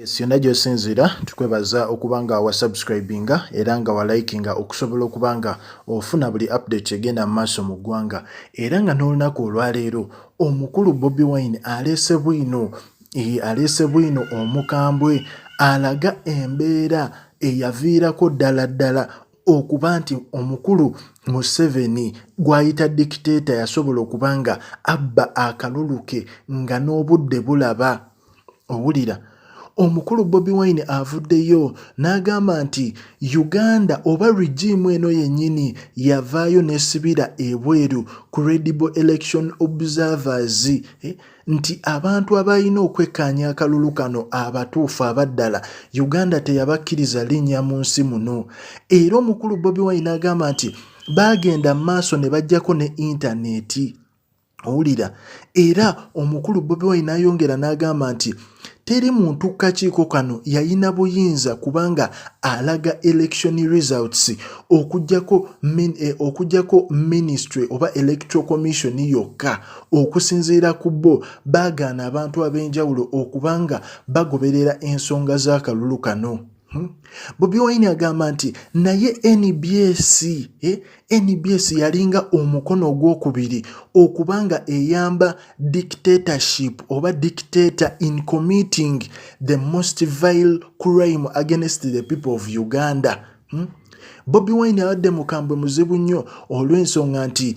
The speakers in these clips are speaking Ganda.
Yes, yonna gy'osinziira tukwebaza okuba nga wasubscribinga era nga walikinga okusobola okuba nga ofuna buli update egenda mu maaso mu ggwanga era nga n'olunaku olwaleero omukulu Bobi Wine aleese bwino eh, aleese bwino omukambwe alaga embeera eyaviirako ddala ddala okuba nti omukulu Museveni gw'ayita dikiteeta yasobola okuba nga abba akalulu ke nga n'obudde bulaba. owulira omukulu bobi wine avuddeyo n'agamba nti uganda oba regimu eno yennyini yavaayo nesibira ebweru credible election observers eh, nti abantu abalina okwekkaanya akalulu kano abatuufu abaddala uganda teyabakkiriza linnya mu nsi muno era omukulu bobi wine agamba nti baagenda mu maaso ne bajjako ne intaneeti owulira era omukulu bobi wine nayongera n'agamba nti teri muntu kukakiiko kano yayina buyinza kubanga alaga election results okujjako min, eh, okujjako ministry oba electoral commission yokka okusinziira ku bo baagaana abantu ab'enjawulo okubanga bagoberera ensonga z'akalulu kano Hmm? Bobi Wine agamba nti naye NBS eh, NBS yalinga omukono ogwokubiri okuba nga eyamba dictatorship oba dictator in committing the most vile crime against the people of Uganda hmm? Bobi Wine abadde mukambwe muzibu nnyo olw'ensonga nti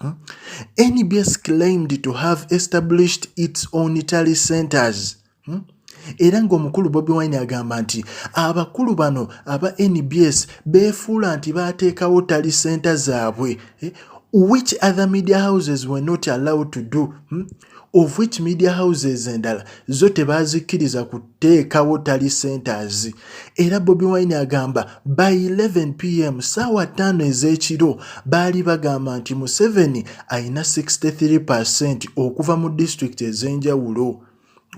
Hmm? NBS claimed to have established its own tally centers hmm? era ng'omukulu Bobi Wine agamba nti abakulu bano aba NBS beefuula nti baateekawo tali senta zaabwe eh? which other media houses were not allowed to do hmm? of which media houses endala zo tebazikkiriza kuteekawo tali centers era bobi wine agamba by 11 pm saawa 5 ez'ekiro baali bagamba nti museveni alina 63 percent okuva mu disitulikiti ez'enjawulo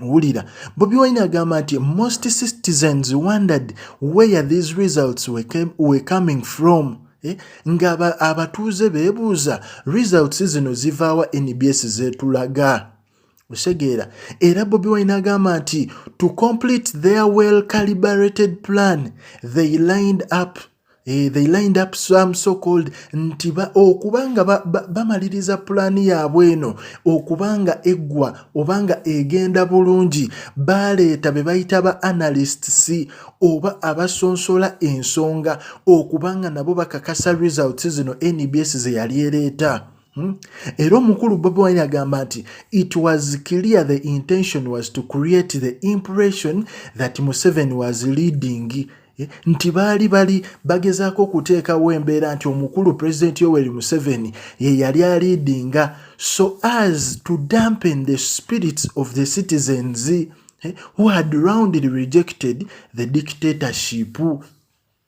wulira bobi wine agamba nti most citizens wondered where these results were, came, were coming from Eh, nga abatuuze beebuuza results zino zivaawa nbs zetulaga osegeera era bobi wine agamba nti to complete their well calibrated plan they lined up eh, they lined up some so called nti okuba nga bamaliriza pulaani yaabwe eno okuba nga eggwa oba nga egenda bulungi baaleeta be bayita ba analysts oba abasonsola ensonga okuba nga nabo bakakasa results zino nbs ze yali ereeta Hmm? era omukulu bobi wine agamba nti it was clear the intention was to create the impression that museveni was leading eh, nti baali bali bagezaako okuteekawo embeera nti omukulu pulezidenti yoweri museveni ye yali aliidinga so as to dampen the spirits of the citizens eh, who had roundly rejected the dictatorship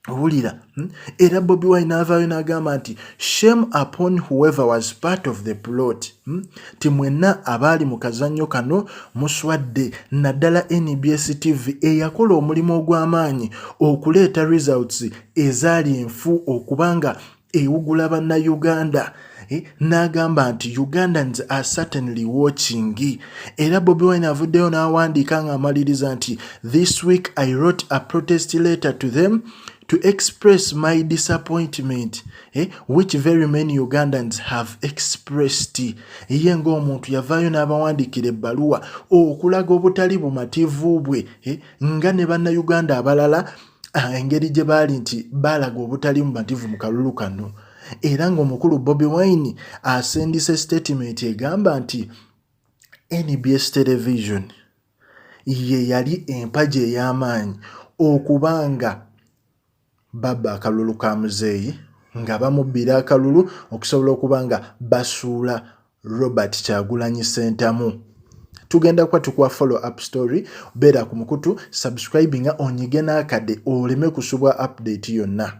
wulira hmm? era bobi wine avaayo n'agamba nti shame upon whoever was part of the plot hmm? ti mwenna abaali mu kazannyo kano muswadde naddala nbs tv eyakola omulimu ogw'amaanyi okuleeta results ezaali enfu okuba nga ewugula bannayuganda eh, n'agamba nti ugandans are certainly watching era bobi wine avuddeyo n'awandiika ng'amaliriza nti this week i wrote a protest letter to them to express my disappointment eh, which very many ugandans have expressed ye ng'omuntu yavaayo n'abawandiikira ebbaluwa okulaga obutali bumativu bwe eh, nga ne bannayuganda abalala ah, engeri gye baali nti baalaga obutali mumativu mu kalulu kano era ng'omukulu bobi wine asindise sitatimenti egamba nti nbs television ye yali empagi ey'amaanyi okuba nga babba akalulu ka muzeeyi nga bamubbira akalulu okusobola okuba nga basuula Robert Kyagulanyi Sentamu tugenda kuba tukuwa follow up story beera ku mukutu subscribinga onyige n'akade oleme kusubwa update yonna